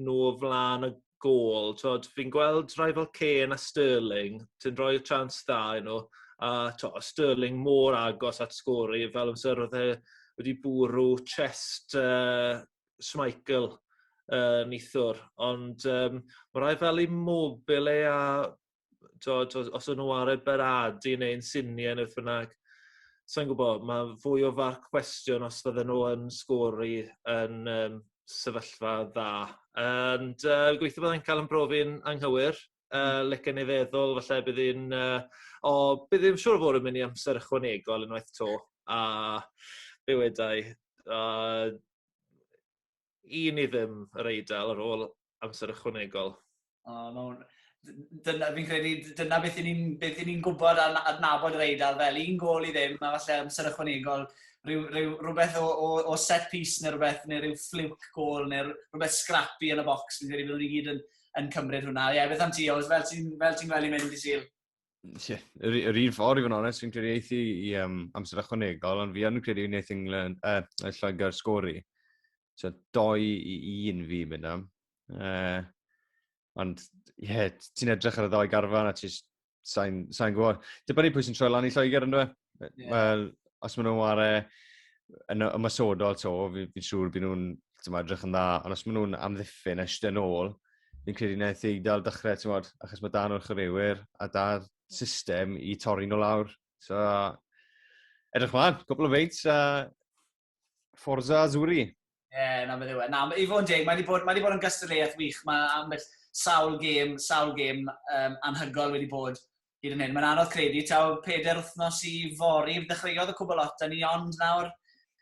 Speaker 3: nhw o flaen y gol. T'wod fi'n gweld rhai fel Kane a Sterling sy'n rhoi y chance dda i nhw a t'o' o' Sterling mor agos at sgori fel amser o'dd e wedi bwrw chest yy Schmeichel yy neithiwr ond yym ma' rai fel Immobile a t'od os os o'n nw ar eu Benadi neu insigne ne' beth bynnag sai'n gwbo ma' fwy o farc cwestiwn os fydden nw yn sgori yn yym sefyllfa dda ond yy gobeithio byddai'n ca'l 'yn brofi'n anghywir yy licen i feddwl falle bydd 'i'n yy o bydd 'i'n siŵr o fod yn myn' i amser ychwanegol unwaith 'to a be' wedai yy I ni ddim yr Eidal ar ôl amser ychwanegol. O, ma' hwn...
Speaker 1: Dyna, fi'n credu, dyna beth i ni'n beth i ni'n gwybod a adnabod yr Eidal fel un gol i ddim, a falle amser ychwanegol, rhyw, rhyw, rhywbeth o, o, o set piece neu rhywbeth, neu rhyw fluke gol, neu rhywbeth scrappy yn y box, fi'n credu byddwn ni gyd yn, yn cymryd hwnna. Ie, yeah, beth am ti, Oes, fel ti'n ti gweld i mynd i syl? yeah, yr,
Speaker 2: yr un ffordd i fod yn onest, fi'n credu eithi i um, amser ychwanegol, ond fi yn credu wneud England, uh, Lloegr sgori. So, doi i un fi mynd am. Uh, ond, ie, yeah, ti'n edrych ar y ddau garfan a ti'n sain, sain gwybod. Dibynnu pwy sy'n troi lan i Lloegr yn dweud. Yeah. Wel, os maen nhw'n ware yn ymwysodol to, fi'n fi siŵr byd nhw'n edrych yn dda, ond os maen nhw'n amddiffyn eisiau yn ôl, fi'n credu na eithaf dal dechrau, ti'n modd, achos mae dan o'r chwaraewyr a da'r system i torri nhw lawr. So, edrych mlaen, cwbl o feints a Forza Azzurri. Ie, yeah, na, mae'n ddiwedd.
Speaker 1: Na, i fod yn deg, mae wedi bod, mae wedi bod yn gystadleuaeth wych. Mae ambell sawl gêm, sawl gêm um, anhygoel wedi bod hyd yn hyn. Mae'n anodd credu, taw peder wythnos i fori, dechreuodd y cwbl lot, a ni ond nawr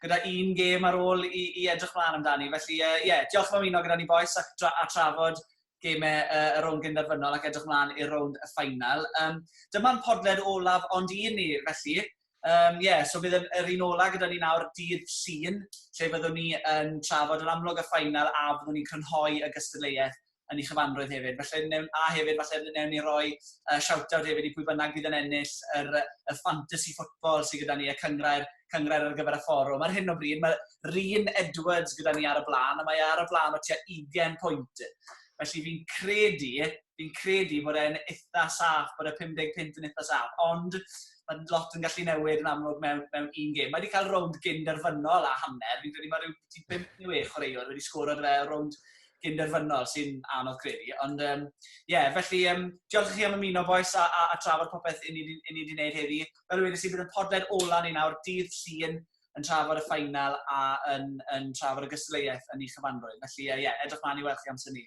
Speaker 1: gyda un gêm ar ôl i, i edrych mlaen amdani. Felly, ie, uh, yeah, diolch am ymuno gyda ni boes ac tra, a trafod gemau uh, y rownd gynderfynol ac edrych mlaen i'r rownd y ffainal. Um, Dyma'n podled olaf ond un ni, felly, Yym, ie, so bydd yr yr un ola' gyda ni nawr dydd Llun, lle fyddwn ni yn trafod yr amlwg a ffaenal a fyddwn ni'n crynhoi y gystadleuaeth yn ei chyfanrwydd hefyd. Felly wnewn... a hefyd falle wnewn ni roi yy shout-out hefyd i pwy bynnag fydd yn ennill yr yy y ffantasy football sy gyda ni, y cynghrair cynghrair ar gyfer y fforwm. Ar hyn o bryd mae Rhun Edwards gyda ni ar y blaen a mae e ar y blaen o tua ugain pwynt. Felly fi'n credu fi'n credu bod e'n eitha saff, bod y 50 punt yn eitha saff, ond mae lot yn gallu newid yn amlwg mewn, mewn un gêm. Mae wedi cael rownd gynderfynol a hanner, fi'n credu mae rhyw 5 neu 6 chwaraewr wedi sgoro dy fe rownd gynderfynol sy'n anodd credu. Ond ie, um, yeah, felly um, diolch i chi am ymuno boes a, a, a trafod popeth i ni wedi gwneud heddi. Fel y wedi sy'n bydd yn podled ola ni nawr dydd llun yn trafod y ffainal a yn, yn trafod y gystadleuaeth yn ei chyfanrwydd. Felly ie, uh, yeah, edrych mlaen i weld chi amser ni.